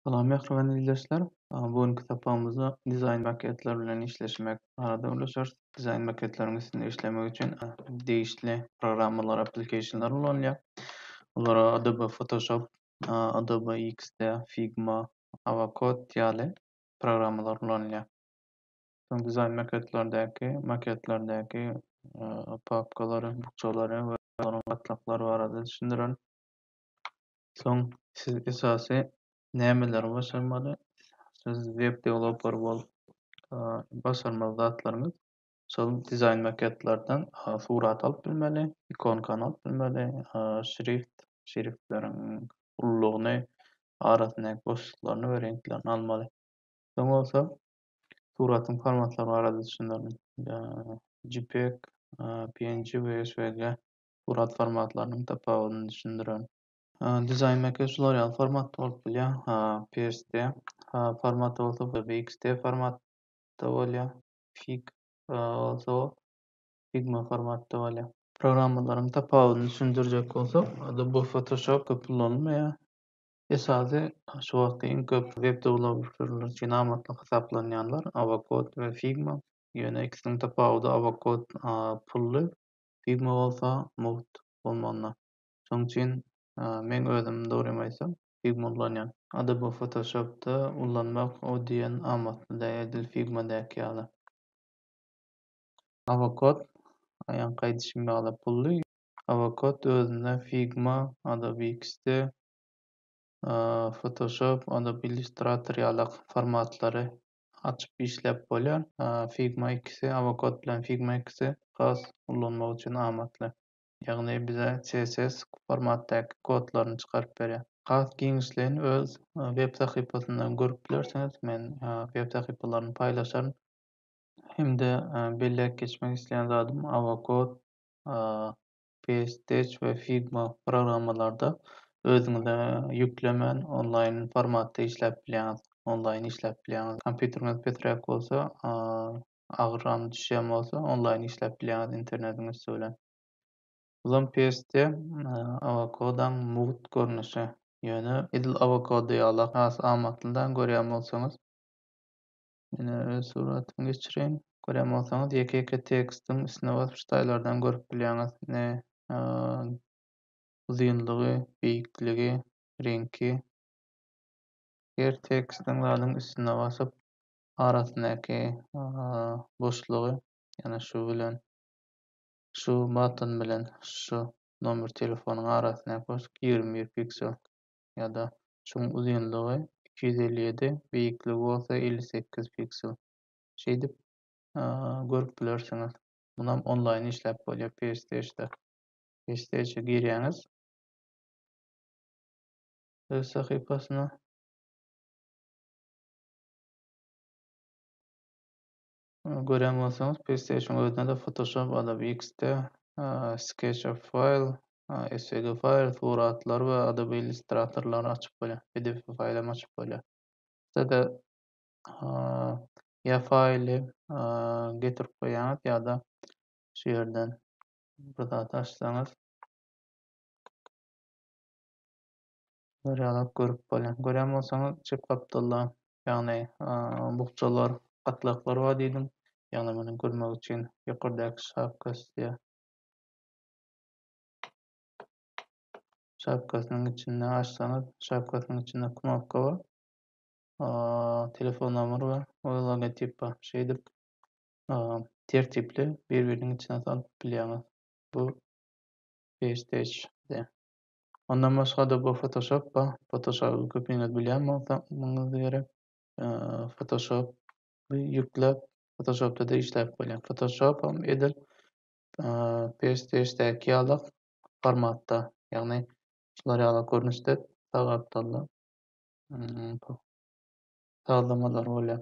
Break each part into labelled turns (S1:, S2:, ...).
S1: Salam mähriban ildeşler. Bu günki sapagymyzda dizaýn maketleri bilen işleşmek barada gürleşeris. Dizaýn maketleriň üstünde işlemek üçin degişli programmalar, applicationlar ulanylýar. Olar Adobe Photoshop, Adobe XD, Figma, Avacode ýaly programmalar ulanylýar. Soň dizaýn maketlerdäki maketlerdäki papkalary, bukjalary we olaryň gatlaklary barada düşündirerin. Soň siz esasy nämeleri başarmaly? Siz web developer bolup başarmaly zatlaryňyz şol dizaýn maketlerden surat alyp bilmeli, ikonkany alyp bilmeli, şrift, şriftleriň ululygyny, arasyndaky boşluklaryny we reňklerini almaly. Soň bolsa suratyň formatlary barada düşünerin. JPEG, PNG we SVG surat formatlarynyň tapawudyny düşündiren. Dizaýn mekge şular ýaly formatda bolup bilýär, PST formatda bolsa VXT formatda bolýar, Fig bolsa Figma formatda bolýar. Programmalaryň tapawudyny düşündirjek bolsak, Adobe Photoshop köp ulanylmaýar. Esasy şu wagtky iň köp web dewlopperleri üçin amatly hasaplanýanlar Avocode we Figma. Ýöne ikisiniň tapawudy Avocode pully, Pigma bolsa mugt bolmanda. Şoň üçin meň özüm dogrymy aýtsam Pigma ullanýan. Adobe Photoshopda ullanmak o diýen amatly däl edil Figma däki ýaly. Avocode aýaňky aýdyşym ýaly pully. Avocode özünde Figma, Adobe XD, Photoshop, Adobe Illustrator ýalak formatlary açyp işläp bolýar. Figma ikisi, Avocode bilen Figma ikisi has ullanmak üçin amatly. Ýagny bize CSS formatdaky kodlaryny çykaryp berýär. Has giňişleýin öz web sahypasyndan görüp bilersiňiz. Men web sahypalaryny paýlaşaryn. Hem-de belläp geçmek isleýän zadym Avocode Paystech we Figma programmalarda özüňize ýüklemän onlaýn formatda işläp bilýäňiz, onlaýn işläp bilýäňiz. Kompýuteriňiz pesräk bolsa, agyram düşýän bolsa onlaýn işläp bilýäňiz internetiň üsti bilen. Uzyn persde awokadoň mugt görnüşi, ýöne edil awokado ýaly has amatly-da görýän bolsaňyz, Ine öz suratymy geçireýin. Görýän bolsaňyz ýeke-ýeke tekstiň üstüne basyp şu taýlardan görüp bilýäňiz. Ne uzynlygy, beýikligi, reňki. Her tekstiň zadyň üstüne basyp arasyndaky boşlugy ýani şu bilen şu button bilen şu nomer telefonyň arasyndaky boşluk ýigrimi bir piksel. ýa-da şuň uzynlygy iki ýüz elli ýedi, beýikligi bolsa elli sekiz piksel. Şeýdip, görüp bilersiňiz. Munam onlaýn işläp bolýar PStage-da. PStage-e girýäňiz. Öz sahypasyna. Görýän bolsaňyz PlayStation özüne-de Photoshop, Adobe XD, SketchUp File, SVG File, suratlar we Adobe Illustrator-lary açyp bolýar, pdf faýl hem açyp bolýar. Size ýa faýly getirip goýýaňyz ýa-da şu ýerden bir zat açsaňyz Görýäňok görüp bolýan. Görýän bolsaňyz çep gapdalda ýagny bukjalar, gatlaklar bar diýdim. Ýagny muny görmek üçin ýokardaky şapka sizä şapkasynyň içinde açsaňyz, şapkasynyň içinde knopka bar. telefon nomer bar we logotip bar. Şeýdip tertipli bir-biriniň içine salyp bilýäňiz. Bu PSTH-de. Ondan başgada bu fotoshop ba fotoshoby köpiňiz bilýän bolsaňyz gerek fotoshop ýükläp fotoshopda-da işläp bolýar fotoshopam edil psdşdäki ýaly formatda ýagny şular ýaly görnüşde sag gapdalda sazlamalar bolýar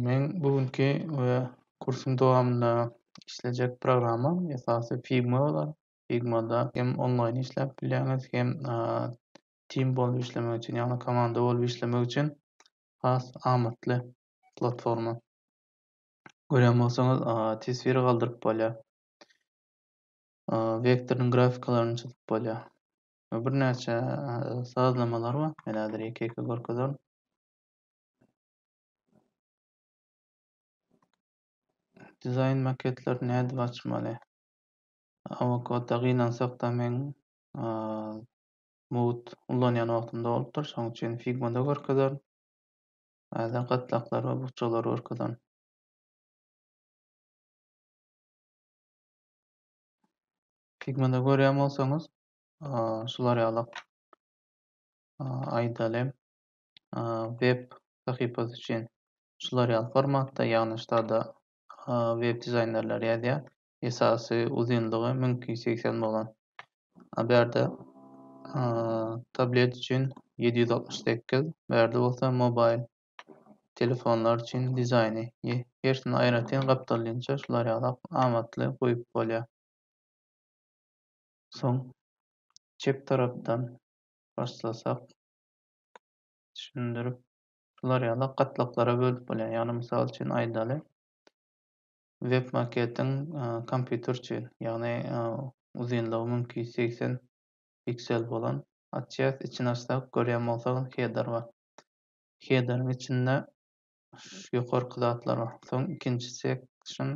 S1: Meň bu günki we kursuň dowamynda işlejek programma esasy Figma bolar. Figmada hem onlaýn işläp bilýäňiz, hem tim bolup işlemek üçin, ýagny komanda bolup işlemek üçin has amatly platforma. Görýän bolsaňyz, teswir galdyryp bolýar. Wektoryň grafikalaryny çyzyp bolýar. Birnäçe sazlamalar bar. Men häzir ýeke-ýeke görkezerin. Dizaýn maketleri nädip açmaly? Awokadda gynansakda men mugt ulanýan wagtymda bolupdyr, şonuň üçin figmada görkezerin. Häzir gatlaklary we bukjalary görkezerin. Figmada görýän bolsaňyz, şular ýaly aýdaly web sahypasy üçin şular ýaly formatda, ýagny ştada web dizaýnerleri ýazýar. Esasy uzynlygy 1280 bolan. A berde tablet üçin 768, berde bolsa mobil telefonlar üçin dizaýny. Hersini aýratyn gapdalynça şular ýaly amatly goýup bolýar. Soň çep tarapdan başlasak, düşündirip şular ýaly gatlaklara bölüp bolýar. Ýagny mysal üçin aýdaly web maketiň kompýuter üçin ýagny uzynlygy mümkin ýüz segsen piksel bolan açýas içini açsak görýän bolsak header bar. Headeriň içinde ýokarky zatlar bar. Soň ikinji section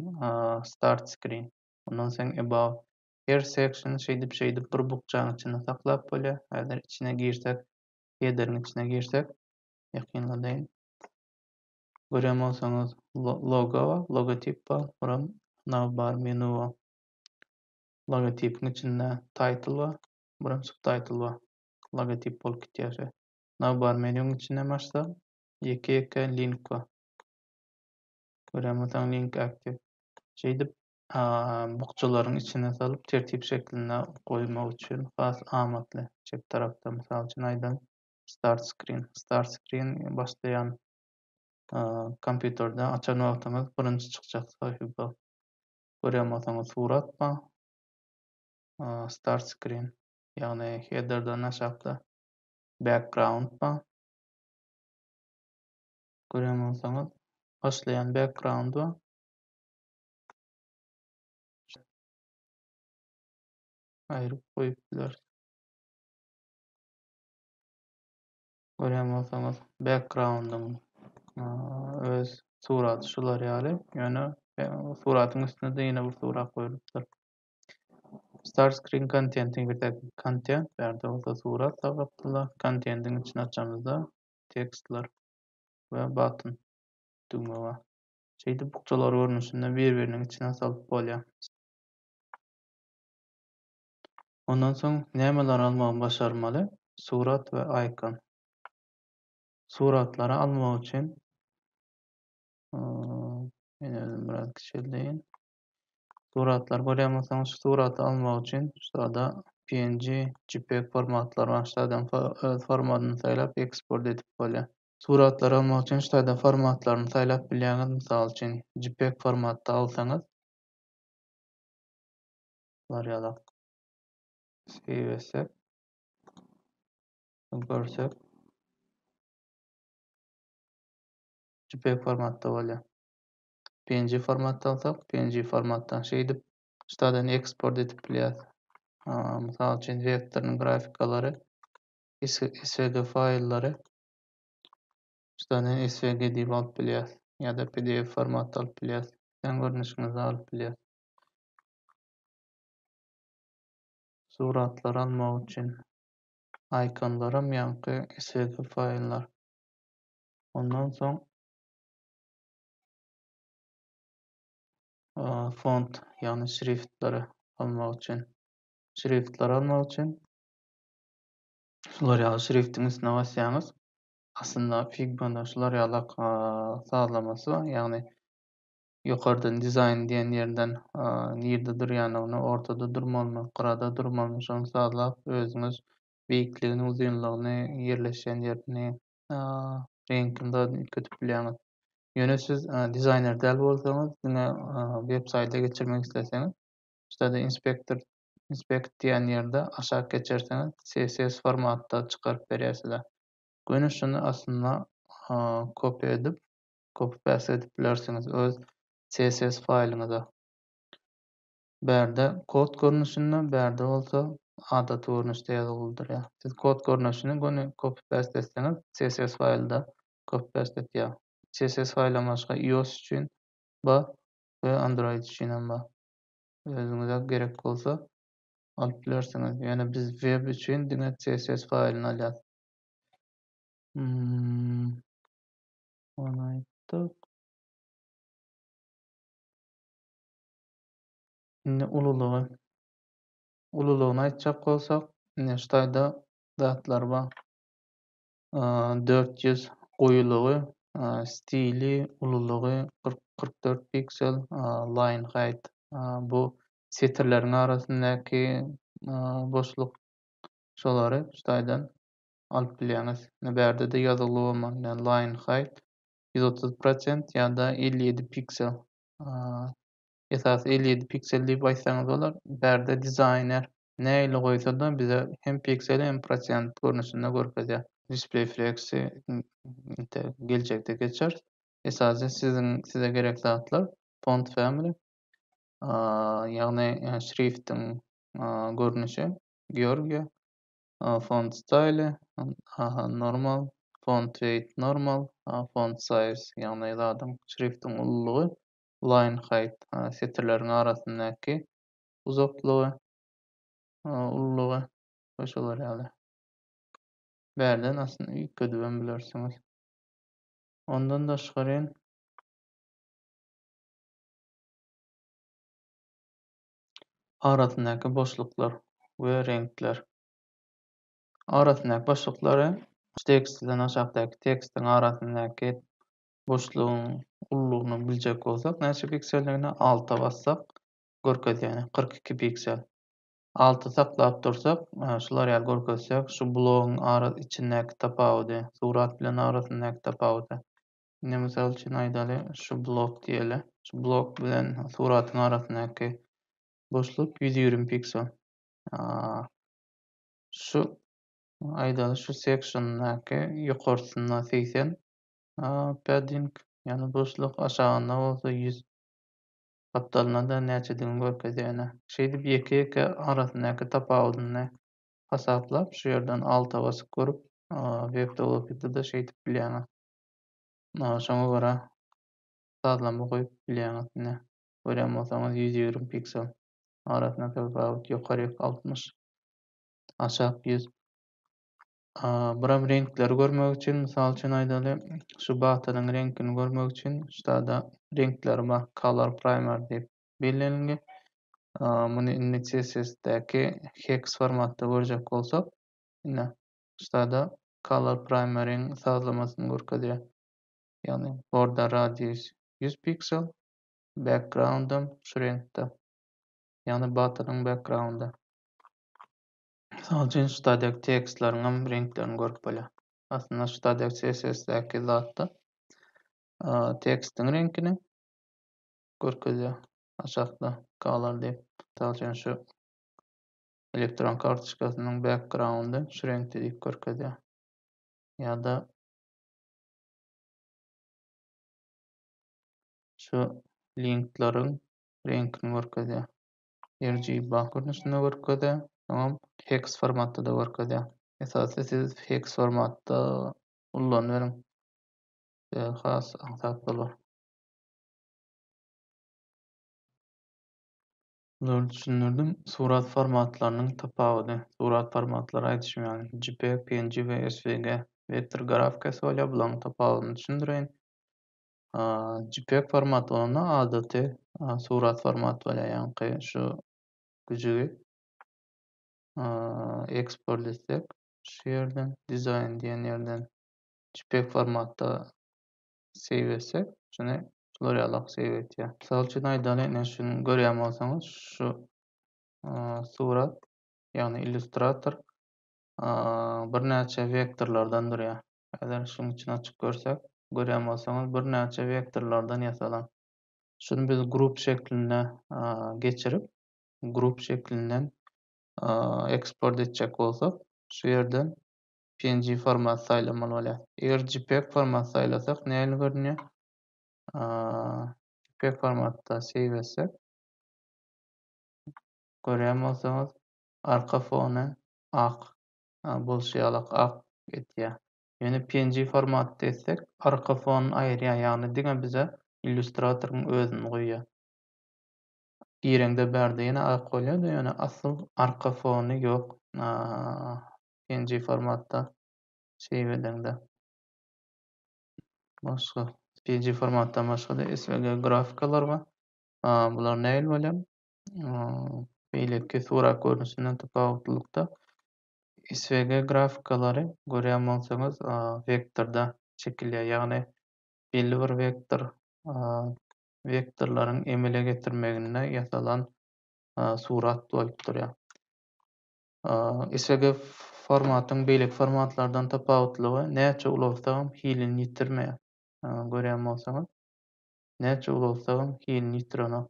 S1: start screen ondan soň about Her section şeýdip şeýdip bir bukjaň içinde saklap bolýar. Häzir içine girsek, headeriň içine girsek, ýakynladaýyn. Görýän bolsaňyz logo, logotip bar, buram navbar menu bar. Logotipiň içinde title bar, buram subtitle bar. Logotip bolup gitýär şe. Navbar menuň içinden başsa, ýeke-ýeke link bar. Görýän bolsaň link active. Şeýdip bukjalaryň içine salyp tertip şeklinde goýmak üçin has amatly. Çep tarapda mysal üçin aýdan Start Screen. Start Screen başlaýan kompýuterde açan wagtyňyz birinji çykjak sahypa. Görýän bolsaňyz surat bar. Start Screen. Ýagny headerden aşakda background bar. Görýän bolsaňyz başlaýan background bar. aýryp goýup bileris. Görýän bolsaňyz backgroundyň öz suraty şular ýaly. Ýöne suratyň üstüne de ýene bir surat goýulypdyr. Start screen contentiň bir tek content, bärde bolsa surat sagapdylar. Contentiň içini açamyzda tekstler we button düwme bar. şeýdip bukjalar görnüşinde bir-biriniň içine salyp bolýar. Ondan soň nämeleri almagy başarmaly? Surat we aýkon. Suratlary almak üçin men özüm biraz kiçeldeýin. Suratlar görýän bolsaňyz, şu suraty almak üçin şurada PNG, JPEG formatlary bar. Şuradan öz formatyny saýlap eksport edip bolýar. Suratlary almak üçin ştaýda formatlaryny saýlap bilýäňiz, mysal üçin jpeg formatda alsaňyz. Bar ýalak. Save etsek. Görsek. Jpeg formatda bolýar. PNG formatda alsak, PNG formatdan şeýdip ştaýdan eksport edip bilýäris. Mysal üçin vektoryň grafikalary svg faýllary ustadan svg edip alyp bilýäris ýa-da pdf formatda alyp bilýäris islän görnüşiňizde alyp bilýäris suratlary almak üçin ikonlaram ýaňky svg faýllar ondan soň font ýagny şriftleri almak üçin şriftleri almak üçin şular ýaly şriftiň üstüne basýaňyz. Aslynda Figma-da şular ýaly sazlamasy bar, ýagny ýokardan dizaýn diýen ýerden nirde durýanyny, ortada durmalymy, gyrada durmalymy şony sazlap, özüňiz beýikligini, uzynlygyny, ýerleşýän ýerini, reňkini zat üýtgedip bilýäňiz. Ýöne siz dizaýner däl bolsaňyz, diňe web-saýta geçirmek isleseňiz, şurada inspektor Inspect diýen ýerde aşak geçerseňiz CSS formatda çykaryp berýär size. Göni şuny aslynda kopýa edip, copy paste edip bilersiňiz öz CSS faýlyňyza. Bärde kod görnüşinde, bärde bolsa adaty görnüşde ýazgyly durýar. Siz kod görnüşini göni copy paste etseňiz CSS faýlda copy paste etýär. CSS faýldan başga iOS üçin bar we Android üçin hem bar. özüňize gerek bolsa alyp bilersiňiz. Ýöne biz web üçin diňe CSS faýlyny alýas. Hmm. Ony aýtdyk. Indi ululygy. Ululygyny aýtjak bolsak, indi ştaýda zatlar bar. dört ýüz goýulygy, stili, ululygy kyrk, kyrk dört piksel, line height, bu setirleriň arasyndaky boşluk şolary şu taýdan alyp bilýäňiz. Ine bärde-de ýazuwly bolmaly. Ine line height ýüz otuz prosent ýa-da elli ýedi piksel esasy elli ýedi piksel diýip aýtsaňyz bolar. Bärde dizaýner nähili goýsa-da bize hem pikseli hem prosent görnüşinde görkezýär. Display Flex-i inte geljekde geçeris. Esasy siziň size gerek zatlar Font Family ýagny şriftiň görnüşi, Georgia, Font Style, Normal, Font Weight Normal, Font Size ýagny zadyň, şriftiň ululygy Lionheight, setirleriň arasyndaky uzaklygy, ululygy we şolar ýaly. Bärden aslynda üýtgedibem bilersiňiz. Ondan daşgaryn, arasyndaky boşluklar we reňkler. Arasyndaky boşluklary tekstden aşakdaky tekstiň arasyndaky boşlugyň ululygyny biljek bolsak näçe pikselligini alta bassak görkezýär kyrk iki piksel alty saklap dursak şular ýaly görkezjek şu blogyň ara içindäki tapawudy surat bilen arasyndaky tapawudy indi mysal üçin aýdaly şu blok diýeli şu blok bilen suratyň arasyndaky boşluk ýüz ýigrimi piksel şu aýdaly şu seksiýondaky ýokarsynda segsen Padding, ýagny buşluk, aşagynda bolsa ýüz gapdalynda-da näçedigini görkezýär. Şeýdip ýeke-ýeke arasyndaky tapawudyny hasaplap, şu ýerden alta basyp görüp, web-tolokada-da şeýdip bilýäňiz. Şoňa görä sazlama goýup bilýäňiz. Ine, görýän bolsaňyz ýüz ýigrimi piksel. Arasyndaky tapawut ýokaryk altmyş, aşak ýüz. Buram reňkleri görmek üçin, mysal üçin aýdaly, şu batanyň reňkini görmek üçin ştada reňkleri bar, color primer diýip bellenildi. Muny indi CSS-däki hex formatda görjek bolsak, ine, ştada color primer-iň sazlamasyny görkezýär. Ýagny border radius 100 piksel, background-am şu reňkde. Ýagny batanyň background-y. Mysal üçin Stadex tekstleriňem reňklerini görüp bolýar. Aslynda Stadex CSS-däki zatda tekstiň reňkini görkezýär. Aşakda color diýip. Mysal üçin şu elektron kartoçkasynyň backgroundy şu reňkde diýip görkezýär. Ýa-da şu linkleriň reňkini görkezýär. RGB görnüşinde görkezýär, soňam hex formatda-da görkezýär. Esasy siz hex formatda ullanyberiň. Size has aňsat bolar. Zor düşündirdim. Surat formatlarynyň tapawudy. Surat formatlary aýdyşym ýaly JPEG, PNG we SVG. Vektor grafikasy bolýar. Bularyň tapawudyny düşündireýin. Jpeg format bolanda adaty surat format bolýar ýaňky şu güjügi eksport etsek şu ýerden dizaýn diýen ýerden jpeg formatda save etsek şuny şular ýalak save etýär. Mysal üçin aýdalyň ine şuny görýän bolsaňyz şu surat ýagny illýustrator birnäçe wektorlardan durýar. Eger şuň içini açyp görsek, görýän bolsaňyz birnäçe wektorlardan ýasalan. Şuny biz grup şekline geçirip, grup şeklinden eksport etjek bolsak, şu ýerden png format saýlamaly bolýar. Eger jpeg format saýlasak nähili görünýär? Jpeg formatda save etsek, görýän bolsaňyz arka fony ak bolşy ýalak ak etýär. Ýöne png formatda etsek arka fonyny aýyrýar ýagny diňe bize illýustratoryň özüni goýýar. Gireňde bärde ýene ak bolýardy ýöne asyl arka fony ýok png formatda save edeňde. Başga png formatdan başga-da svg grafikalar bar. Bular nähili bolýar? beýleki surat görnüşinden tapawutlylykda SVG grafikalary görýän bolsaňyz wektorda çekilýär. Ýagny belli bir wektor wektorlaryň emele getirmeginde ýasalan surat bolup durýar. SVG formatyň beýleki formatlardan tapawutlylygy näçe ulagsagam hilini ýitirmeýär. Görýän bolsaňyz näçe ulagsagam hilini ýitirenok.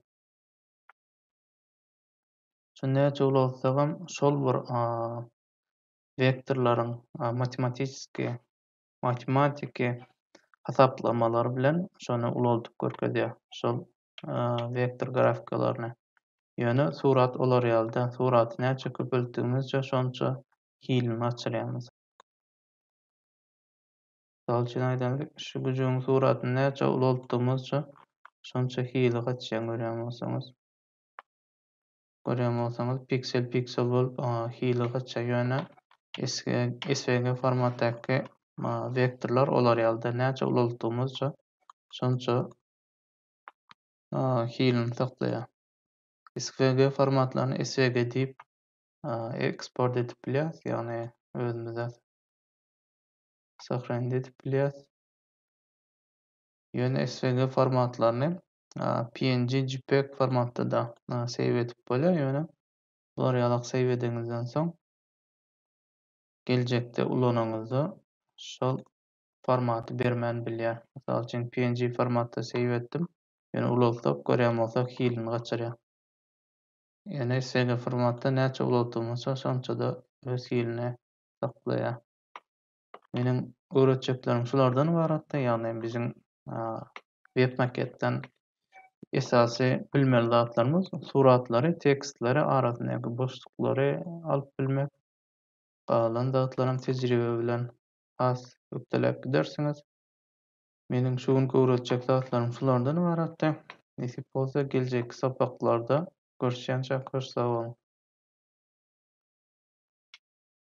S1: Şu näçe ulagsagam şol bir wektorlaryň matematisiki matematiki hasaplamalary bilen şony ulaldyp görkezýär. Şol wektor grafikalaryny. Ýöne surat olar ýaly däl. Suraty näçe köpeltdigimizçe şonça hilini açylýar. Mysal üçin aýdaly, şu güjügiň suratyny näçe ulaltdygymyzça, şonça hili gaçýan görýän bolsaňyz. Görýän bolsaňyz, piksel piksel bolup hili gaçýar, ýöne SVG formatdaky wektorlar olar ýalyda näçe ulaltdygymyzça, şonça hilini saklaýar. SVG formatlaryny SVG diýip eksport edip bilýäris, ýagny özümize Sahraýynda edip bilýäs. Ýöne SVG formatlaryny PNG, JPEG formatda-da save edip bolýar, ýöne bular ýalak save edeňizden soň geljekde ulanyňyzda şol formaty bermän bilýär. Mysal üçin PNG formatda save etdim, ýöne ulaltsak görýän bolsak hilini gaçyrýar. Ýöne SVG formatda näçe ulaltdygymyzça şonça-da öz hilini saklaýar. Meniň öwretjeklerim şulardan ybaratdy, ýagny biziň web maketden esasy bilmeli zatlarymyz suratlary, tekstleri, arasyndaky boşluklary alyp bilmek. Galan zatlaram tejribe bilen has ökdeläp gidersiňiz. Meniň şu günki öwretjek zatlarym şulardan ybaratdy. Nesip bolsa geljekki sapaklarda görüşýänçä köş sag boluň.